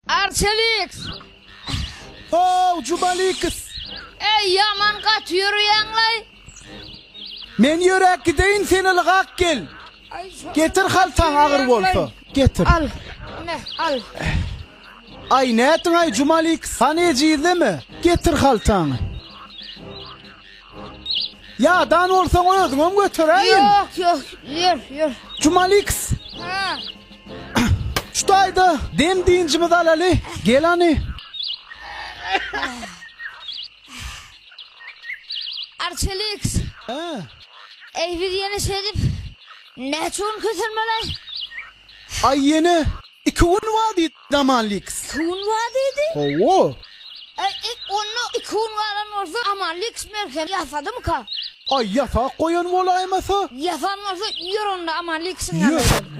Arçeliks! Ho-w, Jumaliks! Äý, ýaman gaty ýörýäň-laý! Men ýöräp gideýin, sen ylgap gel. Getir haltaň agyr bolsa. Getir. Al, ine, al. Aý, nätdiň-aý, Jumaliks? Hany ejizleme. Getir haltaňy. Ýadan bolsaň özüňem göteräýiň. Ýok, ýok, ýör, ýör. Jumaliks. Ha. Şu taýda dem dynjymyzy alaly. Gel hany. Arçeliks. Hä. Eý biz ýene şeýdip näçe gün kösenmeli? Aý ýene iki gün wagt. Amanlyks. Iki gün bar diýdi. Hawa. Eý, onda iki gün galan bolsa Amanlyks merhem ýasadymyka? Aý, ýasap goýan bolaýmasa? Ýasan bolsa, ýör onda Amanlyksiň ýanyna gidelim. Ýör.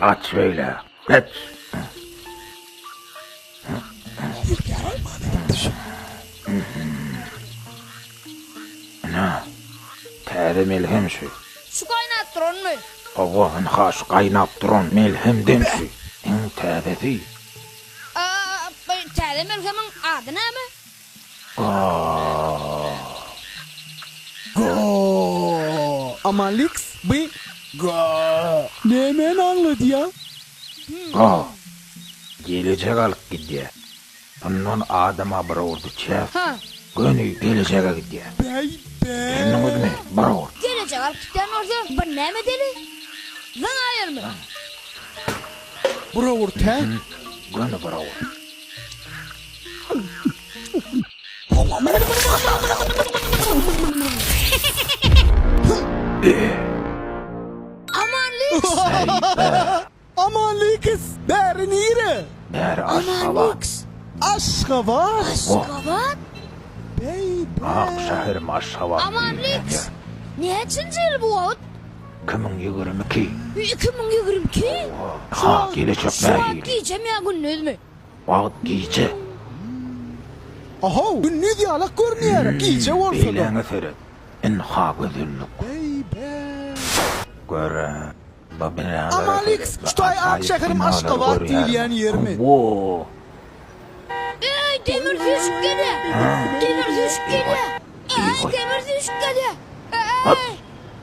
Gaç şeýle, gaç! Ana, täze melhem şu. Şu gaýnap duranmy? Hawa, ynha şu gaýnap duran melhemden şu. Iň täzesi. Aa, bu täze melhemiň ady näme? Amanliks by nämeni aňladýa? Gelejek alyp gidýä. Bundan adama bir urdy çäk. Göni gelejege gidýä. Düşündiňizmi? Bir ur. Gelejek alyp gitýän bolsa bir näme edeli? Zyň aýyrmy? Bir ur tä. Göni bir ur. Aman Liks, bäri nire? Bäri Aşgabat. Aşgabat? Aşgabat? Beý, beý. Ak şäherim Aşgabat. Aman Liks, näçinji ýyl bu wagt? 2022. 2022? Ha, gelejek nähili? Şu wagt gijem ýa gündizmi? Wagt gije. Ahow, gündiz ýalak görünýär, gije bolsa-da. Beýläňe seret, ynha gözellik. Gör-ä, bu binalary seret. Amalix, Kütaý ak şäherim Aşgabat diýilýän ýermi? Woo! Eý, demir süýşüp gelýär! Demir süýşüp gelýär! Eý, demir süýşüp gelýär! Eý!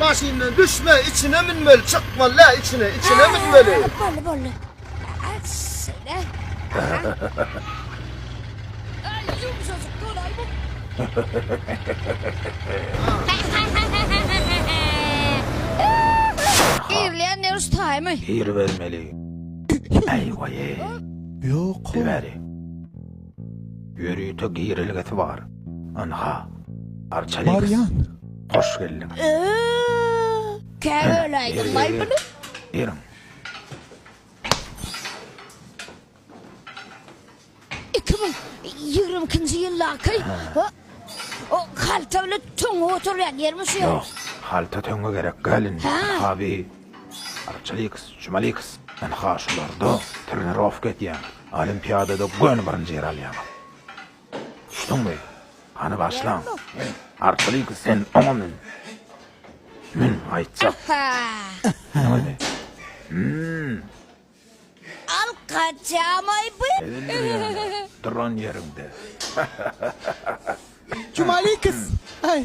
Maşyndan düşme, içine münmeli, çykmaly dä içine, içine münmeli. Bolly, bolly. Aç, şeýle. Ay, yumuşacık, kolay bu. Girleyen ne ustay mı? Gir vermeli. Ay, vay, ay. Yok. Gir Ýörite girelgesi bar. Ynha. Arçaleks. Barýan. Hoş geldiň. Käbäl aýdyň maý muny. Beriň. Iki müň ýigrimi ikinji ýyldaky o halta bilen töňňe oturýan ýermi şu ýer? Ýok, halta töňňe gerek däl indi. Ha. Habi. Arçaleks, Jumaliks. Ynha şularda trenirowka edýäň. Olimpiadada göni birinji ýeri alýaňyz. Düşdüňmi? Hany başlaň. Artlyk sen oňa mün. Mün, aýtjak. Näme? Hümm. Al kaçamaý bu. Duran ýeriňde. Çumalikys. Aý.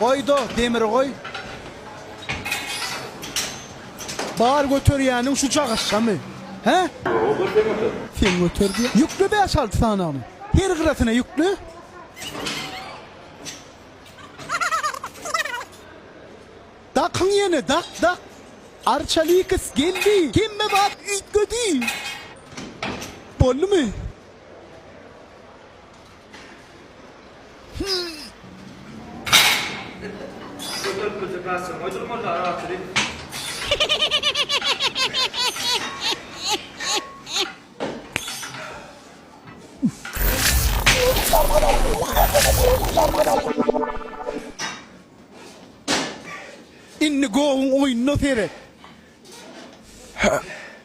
Goýda demiri goý. Bar göterýäniň şu cagyşjamy? Hä? Ýok, götermedim. Sen göter diýýä. Ýükle bäş-alty sanagyny. Her gyrasyna ýükle. Dakyň ýene, dak, dak. Arçalikis geldi. Hemme zat üýtgedi. Boldumy? Indi gowyň oýnuna seret.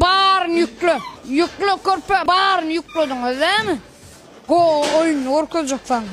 Baryny ýükle. Ýükle körpe. Baryny ýüklediňiz dämi? Go oýuny görkezjek saňa.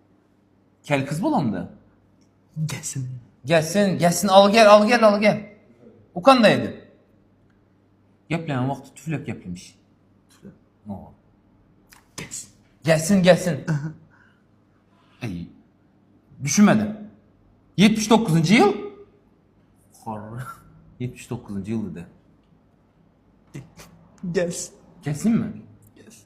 Kel kız bolanda. Gelsin. Gelsin, gelsin, al gel, al gel, al gel. O kandaydı? Geplenen vakti tüflek geplemiş. Tüflek. No. Gelsin. Gelsin, gelsin. Ey, düşünmedi. 79. yıl. Hor. 79. yıl dedi. Gelsin. Gelsin mi? Gelsin.